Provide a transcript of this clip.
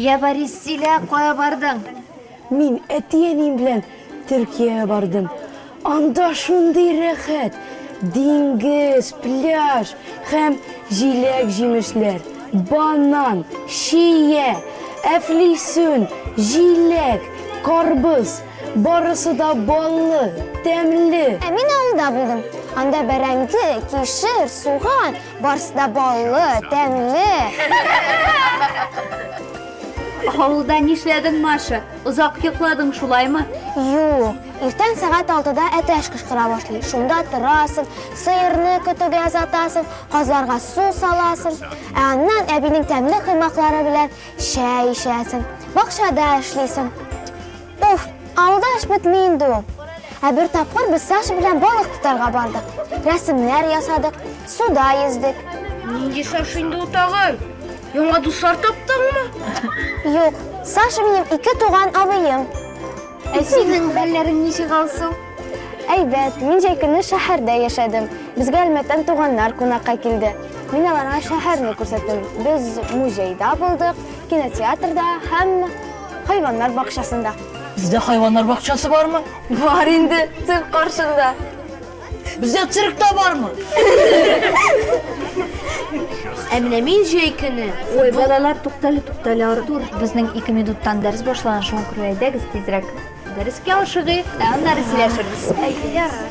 Я Борис Силә кая бардың? Мин әти-әнием белән Төркиягә бардым. Анда шундый рәхәт, диңгез, пляж һәм җиләк-җимешләр, банан, чия, әфлисүн, җиләк, карбыз, Барысы да баллы, тәмле. Ә мин авылда булдым. Анда бәрәңге, кишер, суган, барысы да баллы, тәмле. Авылда нишләдең, Маша? Озак йокладың шулаймы? Юк. Иртән сәгать алтыда әтәч кычкыра башлый. Шунда торасың, сыерны көтүгә озатасың, казларга су саласың. Ә аннан әбинең тәмле коймаклары белән Чәй эчәсең, бакчада эшлисең. Уф, авылда эш бетми инде ул. Ә бер тапкыр без Саша белән балык тотарга бардык. Рәсемнәр ясадык, суда йөздек. Нинди Саша инде ул тагын? Яңа дуслар таптыңмы? Юк, Саша минем ике туган абыем. Ә синең хәлләрең ничек, Алсу? Әйбәт, мин җәй көне шәһәрдә яшәдем. Безгә Әлмәттән туганнар кунакка килде. Мин аларга шәһәрне күрсәттем. Без музейда булдык, кинотеатрда һәм хайваннар бакчасында. Бездә хайваннар бакчасы бармы? Бар инде, цирк каршында. Бездә цирк та бармы? Ә менә мин җәй көне. Ой, балалар, туктале, туктале, Артур. Безнең ике минуттан дәрес башлана, шуңа күрә әйдәгез тизрәк. Дәрескә ашыгыйк, ә аннары сөйләшербез. Әйдә, ярар.